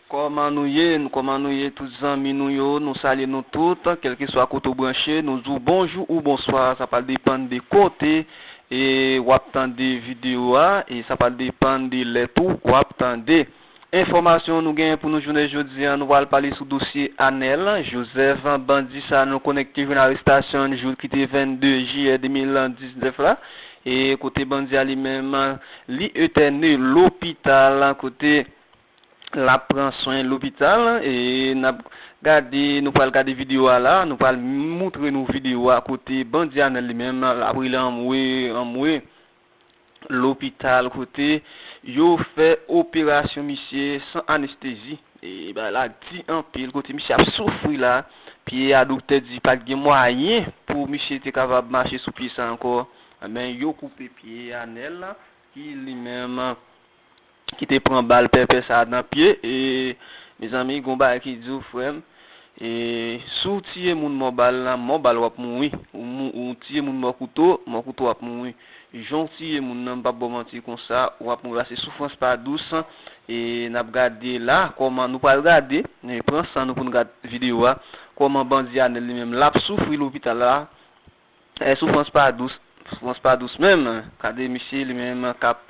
Kòman nou ye n kòman nou ye tout zanmi nou yo nou salye nou tout kèlkeswa kote ou branche nou di w bonjou ou bonswa sa pral depann de kote e wap tande video a e sa pral depann de lè tou wap tande enfòmasyon nou genyen pou nou jounen jodi an nou pral pale sou dosye Anèl Jozèf bandi sa nou konnen ki te jwenn arestasyon l jou l ki te 22 jiyè 2019 la e kote bandi a li menm li etène lopital kote. lap pran swen lopital e nap gade nou pral gade video a la nou pral moutre nou video a kote bandi a menm li menm lap rele anmwe anmwe lopital kote yo fè operasyon misye san anestezi e bagay la di anpil kote misye ap soufri la pye a doktè di pat gen mwayen pou misye te kapab mache sou pye sa ankò men yo koupe pye a nèl ki li menm ki te pran bal pèpè sa nan pye e mezanmi gon bagay ki diw frèm e souw tiye moun mò bal nan mò bal wap mouri ou tiye moun mò kouto mò kouto wap mouri janw tiye moun nan mpap baw manti konsa wap mouri pase soufrans pa dous e nap gade la kòman nou pral gade pran san nou poun gad video a kòman bandi anèl li menm lap soufri lopital la. Eh soufrans pa dous soufrans pa dous menm gade misye li menm kap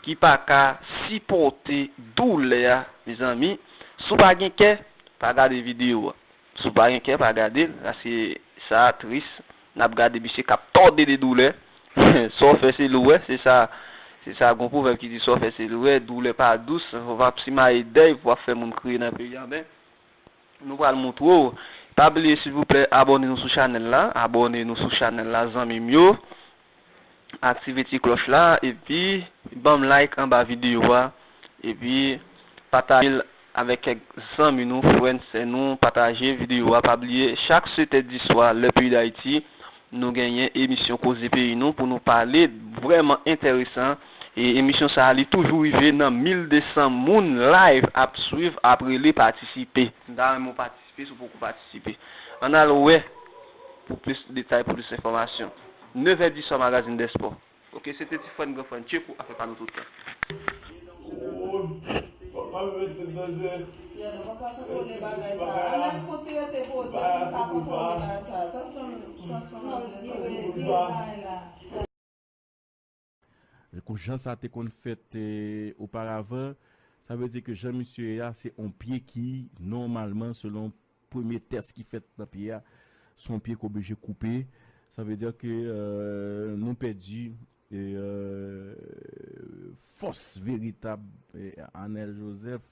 ki paka sipòte doulè a mezanmi sou pa gen kè pa gade video an sou pa gen kè pa gadel paske sa tris nap gade misye kap tòde de doulè sa w fè se li w wè se sa se sa gon pwovèb ki di sa w fè se li w wè doulè pa dous wap simaye dèy pou wap fè moun kriye nan peyi an men Nou pral moutre w. Pa bliye silvouplè abòne nou sou chanèl la abòne nou sou chanèl la zanmim yo aktive ti klòch la epi banm like anba video a epi patajel avèk kèk zanmi nou frè n sè nou pataje video a pa bliye chak 7 è diswa lè peyi dayiti Nou genyen emisyon koze peyi nou pou nou pale vrèman entèresan e emisyon sa li toujou rive nan 1200 moun live ap swiv ap rele patisipe. M ta renmen w patisipe si w poko patisipe. Ann al wè pou plis detay pou plis enfòmasyon. Nevè diswa Magazin dè spò. Ok se te ti frè n gran frè n tcheko afè pa nou tout tan. Kou jan sa te konn fèt oparavan sa vle di ke jan misye ye a se on pye ki nòmalman selon Premye tès ki fèt nan pye a, se yon pye ki oblije koupe. Sa vle di ke nou pèdi fòs veritab Anèl Jozèf.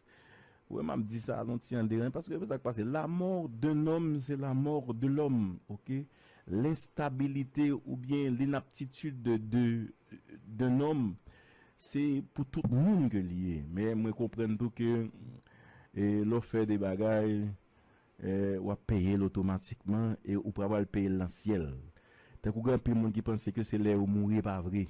Wè m ap di sa nou ti an deranj, paske sa k pase, lamò d'un homme se la mort de l'homme, ok? L'instabilité oubyen l'inaptitude d'un homme, Se pou tout moun ke li ye. Men mwen konprann tou ke lè w fè de bagay, w ap peye l otomatikman e ou pa pral peye l nan syèl. Tankou gen anpil moun ki panse ke se lè yo mouri, e pa vre.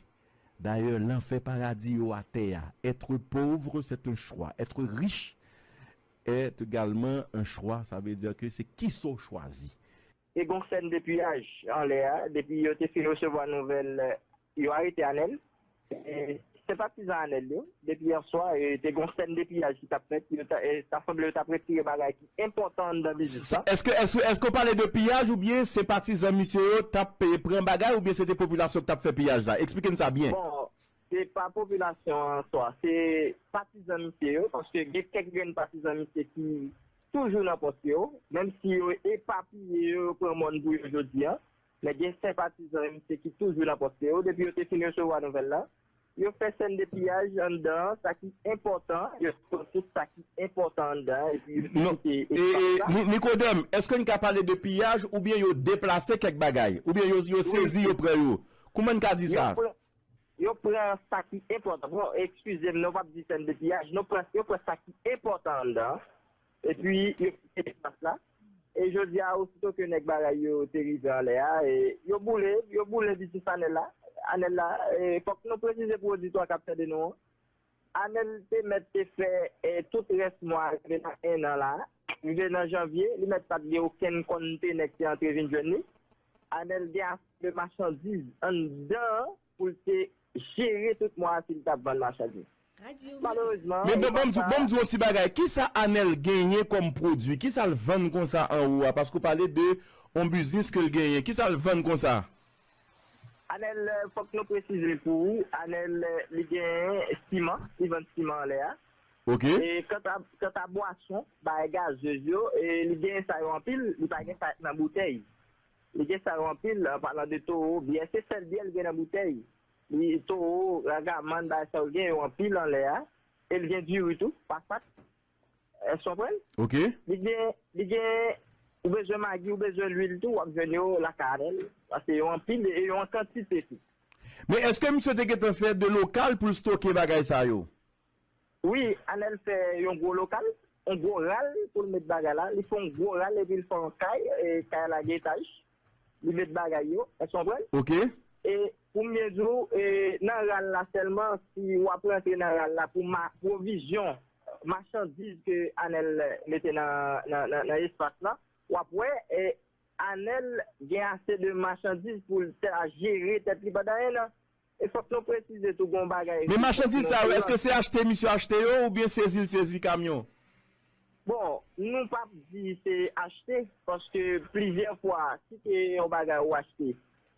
Dayè, lanfè paradi yo atè a. Être pauvre c'est un choix, être riche est également un choix, sa vle di ke se kisa w chwazi. Te gon sèn de piyaj anlè a depi yo te fin resevwa nouvèl yo arete Anèl e senpatizan Anèl yo. Depi yè swa te gon sèn de piyaj ki tap fèt, ta sanble yo tap retire bagay ki enpòtan anndan biznis la. Eske w pale de piyaj oubyen senpatizan misye yo tap pran bagay oubyen se te popilasyon ki tap fè piyaj la? Eksplike n sa byen. Bon, se pa popilasyon an swa, se patizan misye yo paske gen kèk grenn patizan misye ki. Toujou nan pòs yo, menm si yo epapiye yo, yo pran mòn pou yo jodi a, men gen senpatizan MNC ki toujou nan pòs yo, depi yo te fin resevwa nouvèl la, yo fè sèn de piyaj anndan an, sa ki enpòtan, yo sòti sa ki enpòtan anndan an epi yo kite espas la. Nicodème, èske n ka pale de piyaj oubyen yo deplase kèk bagay? Oubyen yo sezi, yo pran yo? Kouman n ka di sa? Yo pran sa ki enpòtan. Bon, ekskize m, nou pap di sèn de piyaj. Nou pran, yo pran sa ki enpòtan anndan an, epi yo kite espas la. E jodi a, osito ke nèg bagay yo te rive anlè a, e yo boule, yo boule bisis Anèl la. Anèl la, e fòk nou presize pou oditwa k ap tande nou an, Anèl te mèt te fè tout rès mwa a rive nan ennan la a, rive nan janvye, li mèt pa t gen okenn konnte nèg te antre vin jwenn li. Anèl gen ase de machandiz anndan an pou l te jere tout mwa a si l t ap vann machandiz. Malerezman, Men epa sa. banm di yon ti bagay, kisa Anèl genyen kòm pwodui? Kisa l vann konsa anwo a? Paske w pale de yon biznis ke l genyen. Kisa l vann konsa? Anèl, fòk nou presize pou ou, Anèl li gen siman, li vann siman anlè a. Ok. E kanta kanta bwason, bagay gazeuz yo, li genyen sa yo anpil, li pa gen sa ki nan boutèy. Li gen sa yo anpil, an palan de Toro, byè se sèl byè li gen nan boutèy. Li Toro, Ragaman, bagay sa yo, li gen yo anpil anlè a. E li gen diri tou, pasat. Èske w konprann? Ok. Li gen, li gen, ou bezwen magi, ou bezwen lwil tou, w ap jwenn yo lakay Anèl. Paske yo anpil e yo an kantite tou. Men èske misye te gentan fè de lokal pou l stoke bagay sa yo? Wi anel fè yon gwo lokal yon gwo ral poul met bagay la li fè yon gwo ral epil fè yon kay kay la gen etaj li met bagay yo èske ou konprann Ok. e poum byen diw e nan ral la sèlman si wap rantre nan ral la pou ma pwovizyon machandiz ke anel mete nan nan espas la wap wè e anel gen ase de machandiz poul ta jere tèt li pandan 1 an. E fòk nou presize tou gen yon bagay Men machandiz sa yo eske se achte misye achte yo oubyen sezi l sezi kamyon? Bon, nou pap di se achte paske plizyè fwa si se yon bagay ou achte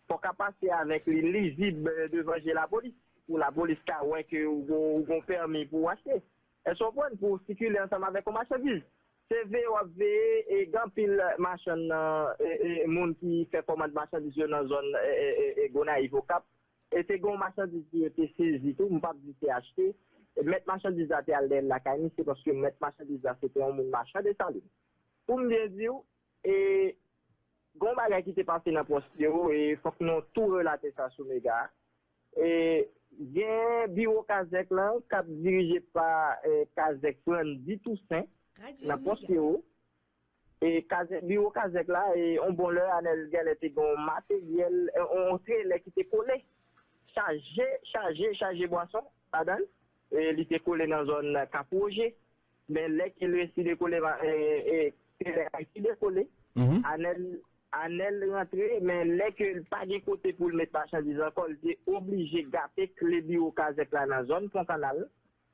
fòk a pase avèk li lizib devan je lapolis pou lapolis ka wè ke ou gen yon pèmi pou w achte. Èske w konprann? Pou w sikile ansanm avèk yon machandiz. Se veye wap veye e gen anpil machann nan moun ki fè kòmand machandiz yo nan zòn Gonayiv Okap e te gen yon machandiz ke yo te sezi tou m pap di se achte mèt machandiz la te al dèyèl lakay misye paske mèt machandiz la se te yon moun machan Desalin pou m byen diw e gen yon bagay ki te pase nan pwòs yo e fòk nou tou relate sa sou mega. Gen biwo kazèk lan k ap dirije pa kazèk Frandy Toussaint nan pòs Pero. Biwo kazèk la, yon bon lè Anèl genlè te gen yon materyèl, yon trelè ki te kole chaje chaje chaje bwason ladan l. Li te kole nan zòn Kap Woje. Men lè ki lè si dekole va ee se lè kay si dekole anèl anèl rantre men lè ke l pa gen kote pou l met machandiz ankò li te oblije gate kle biwo kazèk la nan zòn pon kanal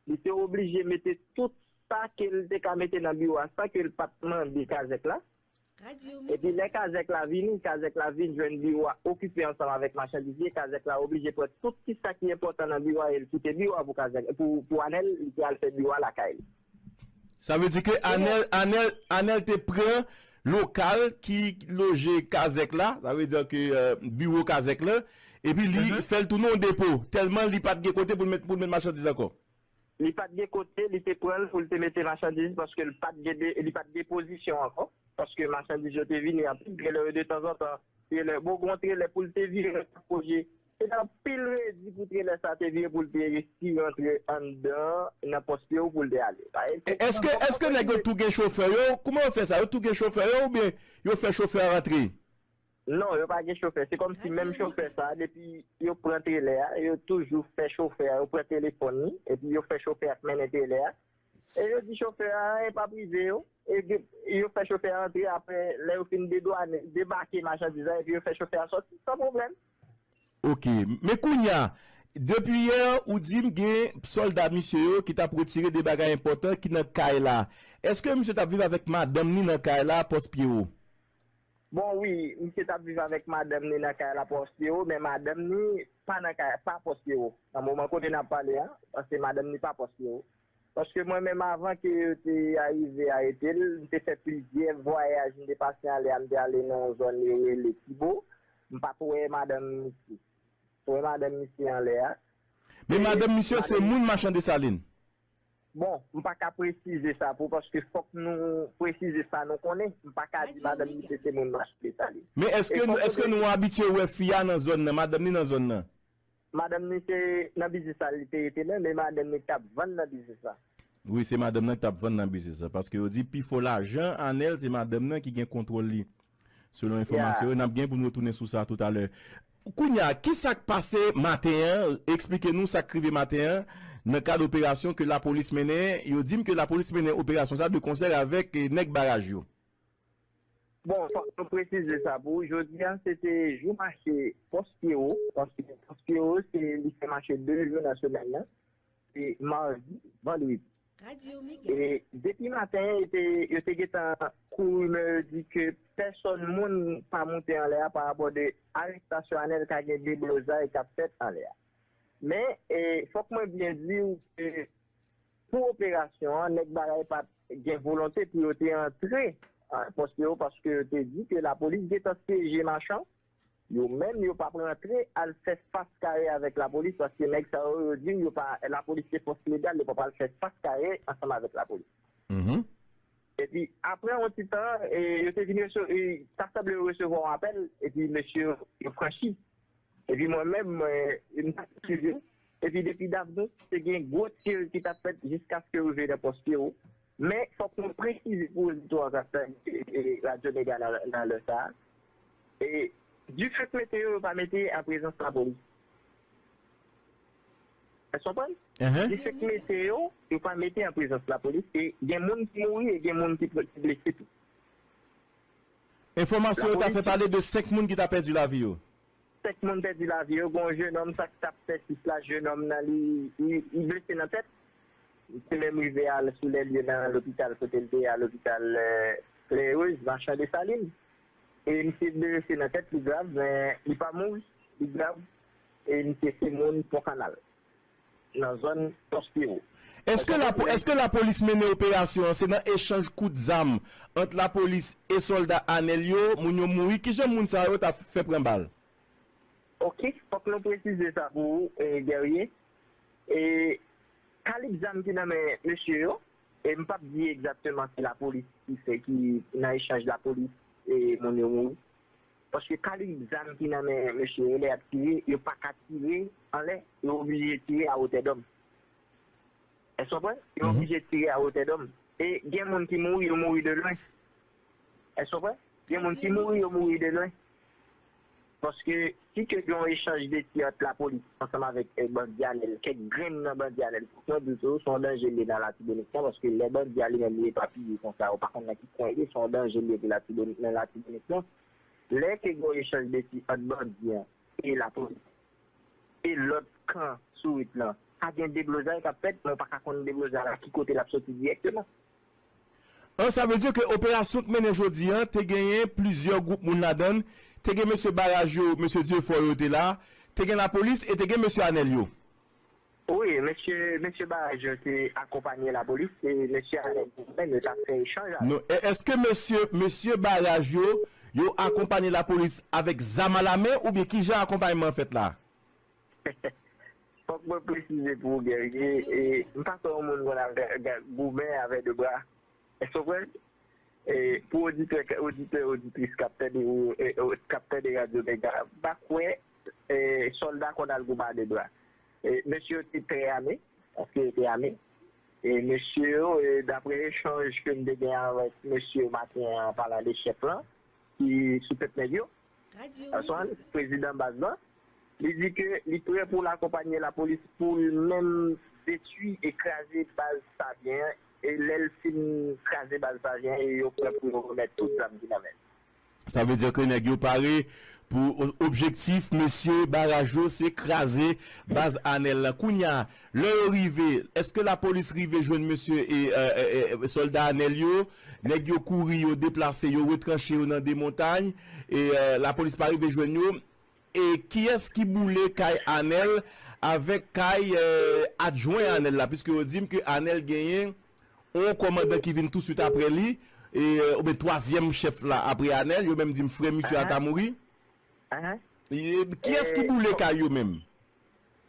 li te oblije mete tout sa ke l te ka mete nan biwo a san ke l pa t mande kazèk la. Epi lè kazèk la vini, kazèk la vin jwenn biwo a okipe ansanm avèk machandiz li, kazèk la oblije pran tout ti sa ki enpòtan nan biwo a e l kite biwo a pou kazèk, pou Anèl, li te al fè biwo a lakay li. Sa vle di ke Anèl, Anèl, Anèl te pran lokal ki loje kazèk la, sa vle di ke biwo kazèk la, epi li fè l tounen yon depo, tèlman li pa t gen kote pou l met machandiz ankò. Li pat gen kote li te pran l pou l te mete machandiz paske l pat gen de li pat gen pozisyon ankò paske machandiz yo te vini anpil trelè yo detanzantan trelè bon gon trelè pou l te vire l tap oblije se te anpil redi pou trelè sa te vire pou l te resi rantre anndan nan pòs pye w pou l te ale sa e E èske èske nèg yo tou gen chofè yo kouman yo fè sa yo tou gen chofè yo oubyen yo fè chofè a rantre? Non, yo pa gen chofè. Se kòm si menm chofè sa a, depi yo pran trelè a, yo toujou fè chofè a, yo pran telefòn li, epi yo fè chofè a k mennen trelè a, e yo di chofè a anyen pa p rive yo, e yo fè chofè a antre, apre, lè yo fin dedwane, debake machandiz la, epi yo fè chofè a sòti, san pwoblèm. Ok. Men kounye a, depi yè, ou di m gen sòlda misye yo ki t ap retire de bagay enpòtan ki nan kay la. Èske misye t ap viv avèk madanm li nan kay la, Pòspyewo? Bon wi, misye tap viv avèk madanm ni nan kay la Postero, men madanm ni pa nan kay la, pa Postero nan moman kote nap pale a, paske madanm ni pa Postero. Paske mwen menm avan ke yo te arive arete l, m te fè plizyè vwayaj, m te pase anlè a, m te ale nan yon zòn yo rele Kibo, m pat wè madanm misye. M wè madanm misye anlè a. Men madanm misye se moun Machan Desalin? Bon, m pa ka presize sa pou paske fòk nou presize sa nou konnen. M pa ka di madanm misye se moun Mache Desalin. Men èske nou èske nou abitye wè fi a nan zòn nan, madanm ni nan zòn nan? Madanm ni se nan biznis sa li te rete menm e madanm ni ki t ap vann nan biznis la. Wi, se madanm nan ki t ap vann nan biznis la paske yo di pi fò lajan Anèl se madanm nan ki gen kontwòl li selon enfòmasyon yo. N ap gen pou n retounen sou sa toutalè. Kounya kisak pase maten an esplike nou sak rive maten an nan kad operasyon ke lapolis mennen yo dim ke lapolis mennen operasyon sa de konsèr avèk nèg baraj yo. Bon fòk nou presize sa pou ou jodi a se te jou mache pòs pyewo paske pòs pyewo se li fè mache 2 jou nan semèn nan. Se mardi, vandredi. E depi maten yo te gentan kou rimè yo di ke pèsòn moun pa moute anlè a parapò de arestasyon Anèl ka gen deblozay kap fèt anlè a. Men fòk mwen byen di ou ke pou operasyon an nèg bagay pat gen volonte pou yo te antre an pòs yo paske yo te di ke lapolis gentan syeje machan. Yo menm yo pap rantre al fè fas kare avèk lapolis paske nèg sa yo yo di w yo pa lapolis se fòs legal yo pap al fè fas kare ansanm avèk lapolis. Epi aprè yon ti tan yo te vin ta sanble yo resevwa yon apèl epi mesye yo franchi epi mwen menm m pa t swiv yo epi depi Davnos te gen gwo tir ki t ap fèt jiskaske rive nan pòs Pyero. Men, fòk nou presize pou oditè yo k ap tande Radyo Mega nan lè sa a, difèt mete yo, yo pa mete an prezans lapolis. Èske w konprann? Difèt mete yo, yo pa mete an prezans lapolis e gen moun ki mouri e gen moun ki blese tou. Enfòmasyon yo ta fè pale de 5 moun ki ta pèdi lavi yo. 5 moun pèdi lavi yo, gen yon jenòm sa ki t ap fè sis la, jenòm nan li blese nan tèt, li te menm rive al sou lè lye nan lopital kote l te ye a lopital Clair-Heureuse, Marchand Dessalines e misye blese nan tèt li grav men li pa mouri, li grav e misye se moun Pont Canal. nan zòn Pòspewo. Eske la eske lapolis mennen operasyon an se nan echanj kout zam ant lapolis e sòlda Anel yo, moun yo mouri, kijan moun sa yo ta fè pran bal? Ok, fòk nou presize sa pou ou Guerrier, e kalib zam ki nan men mesye yo, e m pap di egzakteman se lapolis ki fè ki nan echanj lapolis e moun yo mouri. paske kalib zam ki nan men mesye yo lè yap tire yo paka tire anlè yo oblije tire a wotè dòm èske w konprann yo oblije tire a wotè dòm e gen moun ki mouri yo mouri de lwen èske w konprann gen moun ki mouri yo mouri de lwen paske Si te gen yon echanj de tir ant lapolis ansanm avèk bandi a lèl kèk grenn nan bandi a lèl fòk mwen di w tou son danje liye nan latibonit nan paske lè bandi a li menm li epapiye konsa ou pa konn nan ki kwen li ye son danje liye pou latibonit nan latibonit nan lè te gen yon echanj de tir ant bandi an e lapolis e lòt kan sourit lan ka gen deblozay kap fèt men ou paka konn deblozay la ki kote lap soti dirèkteman. An sa vle di ke operasyon k mennen jodi an te genyen plizyè gwoup moun ladan l, te gen mesye baraj yo, mesye Dieufort yo te la, te gen lapolis e te gen mesye Anel yo. Wi, mesye mesye baraj yo te akonpanye lapolis e mesye Anel yo menm yo t ap fè echanj avèk. Non, e eske mesye mesye baraj yo, yo akonpanye lapolis avèk zam alamen oubyen kijan akonpayman an fèt la? Fòk mwen presize pou ou Guerrier, m pa kwè yon moun konn ap goumen avè 2 bra. Èske w konprann? Pou oditè, oditè, oditris k ap tande ou yo, k ap tande radyo Mega, m pa kwè sòlda konn al goumen a 2 bra. Mesye yo te trè ame, paske yo te ame. Mesye yo, daprè echanj ke m te gen avèk mesye yo maten an, an palan de chèf lan ki sou tèt nèg yo, Answany, prezidan baz la, li di ke li prè pou l akonpanye lapolis pou l menm detwi e kraze baz Savyen an e lè l fin kraze baz Savyen an e yo prè pou yo remèt tout zam ki nan men l. Sa vle di ke nèg yo pare pou objektif mesye baraj yo se kraze baz Anel la. Kounya Lè yo rive, eske lapolis rive jwenn mesye sòlda Anèl yo? Nèg yo kouri, yo deplase, yo retranche yo nan de montay. Lapolis pa rive jwenn yo. E kiyès ki boule kay Anèl avèk kay adjwen Anèl la? Piske yo di m ke Anèl genyen yon kòmandan ki vin touswit apre li, oubyen twazyèm chèf la apre Anèl. Yo menm di m frè misye a ta mouri. Kiyès ki boule kay yo menm?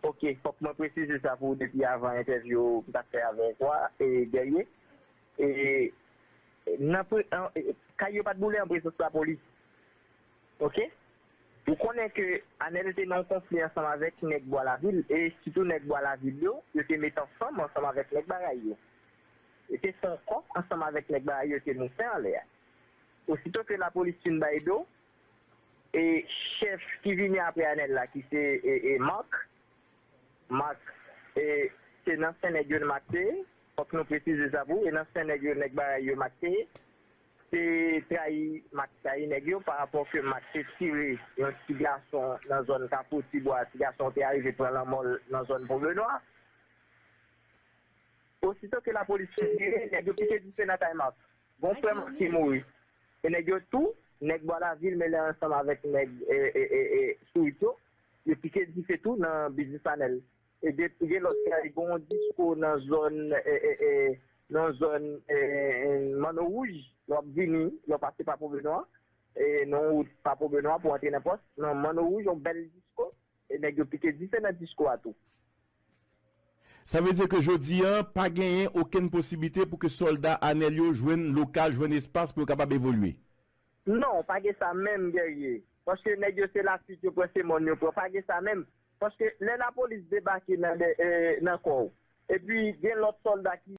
Ok fok mwen presize sa pou ou depi avan entèvyou m tap fè avèk ou a Guerrier e nan kay yo pat boule an prezans lapolis ok ou konnen ke Anel te nan yon konfli ansanm avèk nèg bwa lavil e sitou nèg bwa lavil yo yo te met ansanm ansanm avèk nèg baray yo yo te fè yon kò ansanm avèk nèg baray yo te moufen anlè a ositou ke lapolis fin bay do. E chèf ki vini apre Anèl la ki se Marc, Marc e se nan sen nèg yo Marc te ye, fòk nou presize sa pou, e nan sen nèg yo nèg Barayi yo Marc te ye. Se trayi Marc trayi nèg yo pa rapò ke Marc te tire yon ti gason nan zòn Kafou ti bwa, ti gason an te arive pran lanmò l nan zòn Pon Benwa. Osito ke lapolis fin tire, nèg yo pike dife nan kay Marc. Gon frè Marc ki mouri. Se nèg yo tou, nèg bwa lavil mele ansanm avèk nèg Sourit yo, yo pike dife tou nan biznis Anèl. E depi gen lòt kay gen yon disko nan zòn nan zòn Manno Wouj, lè w ap vini, lè w pase Papo Benwa, nan yon wout Papo Benwa pou antre nan pòs, nan Manno Wouj yon bèl disko, e nèg yo pike dife nan disko a tou. Sa vle di ke jodi an pa genyen okenn posiblite pou ke sòlda Anèl yo jwenn lokal, jwenn espas pou yo kapab evolye? Non, pa gen sa menm Guerrier. Paske nèg yo se lafit yo pran, se mòn yo pran. Pa gen sa menm. Paske lè lapolis debake nan dè, nan kò ou. Epi gen lòt sòlda ki.